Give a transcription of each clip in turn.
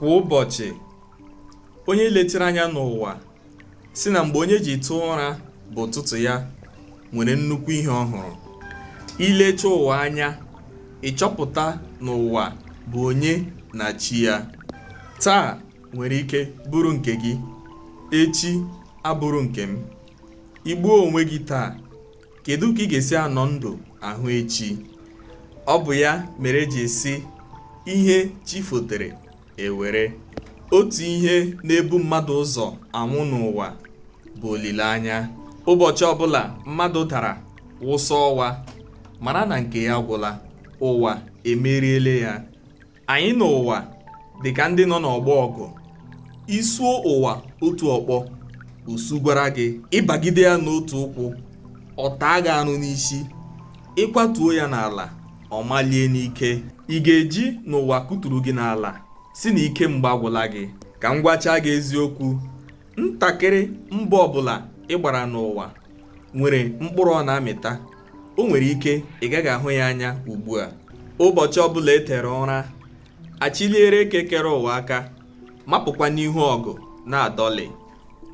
kwa ụbọchị onye letiri anya n'ụwa sị na mgbe onye ji tee ụra bụ ụtụtụ ya nwere nnukwu ihe ọ hụrụ i lecha ụwa anya ị chọpụta na ụwa bụ onye na chi ya taa nwere ike bụrụ nke gị echi abụrụ nke m i gbuo onwe gị taa kedu ka ị ga-esi anọ ndụ ahụ echi ọ bụ ya mere e ji sị ihe chi fotere e were otu ihe na-ebu mmadụ ụzọ anwụ n'ụwa bụ olileanya ụbọchị ọbụla mmadụ dara wụsa ọwa mara na nke ya agwụla ụwa emeriele ya anyị na ụwa dị ka ndị nọ n'ọgbọ ọgụ i suo ụwa otu ọkpọ o sugwara gị ị bagide ya n'otu ụkwụ ọ taa gị arụ n'isi ị kwatuo ya n'ala ọ malie n'ike ị ga-eji na ụwa kụturu gị n'ala sị na ike mgba agwụla gị ka m gwacha gị eziokwu ntakịrị mbọ ọbụla ị gbara n'ụwa nwere mkpụrụ ọ na-amịta o nwere ike ị gaghị ahụ ya anya ugbu a ụbọchị ọbụla e tere ụra a chịliere eke kere ụwa aka mapụkwa n'ihu ọgụ na-adọlị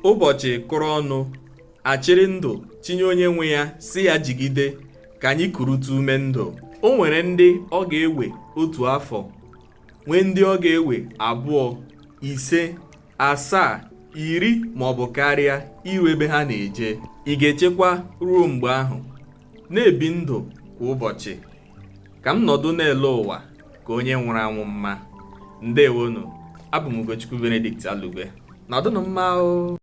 ụbọchị kụrụ ọnụ a chịrị ndụ chịnye onye nwe ya sị ya jigide ka anyị kurutu ume ndụ o nwere ndị ọ ga-ewe otu afọ nwee ndị ọ ga-ewe abụọ ise asaa iri ma ọ bụ karịa iru ebe ha na-eje ị ga-echekwa ruo mgbe ahụ na ibi ndụ kwa ụbọchị ka ịnọdụ na-ele ụwa ka onye nwụrụ anwụ mma ndewonụ abụ m Ugochukwu Benedict Alugwe nọdụnụ mma o